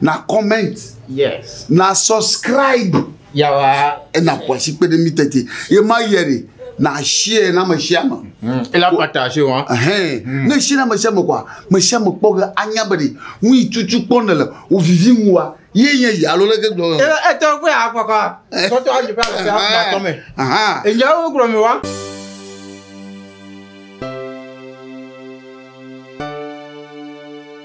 na comment yes na subscribe yawa ena kwasi kpe ɖe mi tete ye ma yɛ de na share na me share ma hmm. ela partage wa hein hmm. ne share na me share ma kwa me share ma kpɔ ge anya be de nu yi tutu kpɔ ne le o vivi mu wa ye nye ya lo leke gblɔ e e to ko ya kwa kwa to to aje pa se ha to me aha e nya wo gro mi wa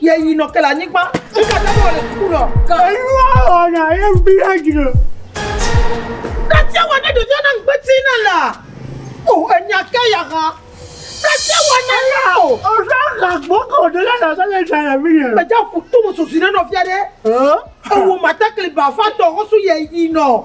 Ye yi nɔ ke le anyigba. Ŋu ka tɛ wɔ le suku nɔ. Ka enu awɔ na ye ŋu bi na dzi nɔ. Ka tɛ wɔ na ɖevia na ŋgbe ti na la. O enya ke ya ha. Ka tɛ wɔ na la o. O sa ka gboko de la na sa le sa le mi ye. Meja ku tu mu susu ne nɔ fia de. O. O wo ma ta kli ba fa tɔ ho su ye yi nɔ.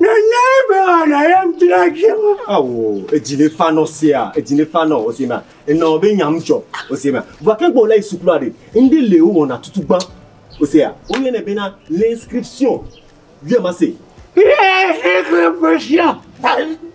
Nana be wana ya mtla jema. Awo, edzi ne fa nɔ sea, edzi ne fa nɔ ose ma. Enɔ be nyam tsɔ ose ma. Vua ke gbɔ le sukulu aɖe. Inde le wo wɔna tutu gban. Osea, wo yɛ ne bena l'inscription. Vieux ma se. Ye se ke pesia.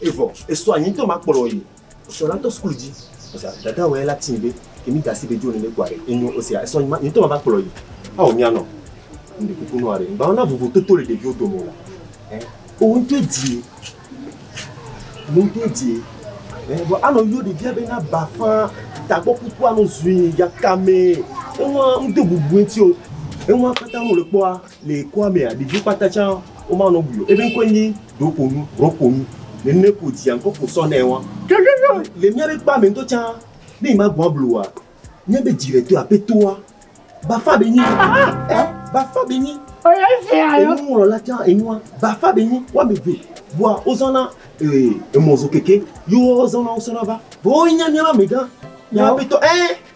Evɔ esɔ anyi ŋkema kplɔ yi esɔ la tɔ sukulu dzi. Ɔsea dada wɛ la tin be kemi gasi be jo nene kua ɖe enyo ɔsea esɔ anyi ma yi ŋkema va kplɔ yi. Ao mia nɔ mi ɖe kuku nɔa ɖe ŋgbawo na vovo toto le ɖeviwo dome o eh o ŋtɔ edie no ŋtɔ edie eh vɔ anɔ yio ɖevia be na ba fã tagbɔ kuku anɔ zui yakame eŋua ŋdo bubu ŋti o eŋua kata ŋu le kpɔa. Le kɔa mea, ɖeviwo kpata tsã womanɔ bui o. Eƒe ŋkɔe nye Ɖoƒonu, Rɔponu. Nene ko dzia ŋkɔ ko sɔ nɛ wa. Le míaƒe kpea me ŋutɔ tsã, ne yi magbɔ̃ ablu oa, míaƒe dzi le to aƒetɔa bafa be nyi. Ɛ, bafa be nyi. Enuŋlɔla tsã enua bafa be nyi. Woame eve bua wozɔna e, emɔzokeke ye woazɔna wosɔna va. Vɔ woe nye míaƒe amegã, míaƒe aƒetɔ. Ɛ.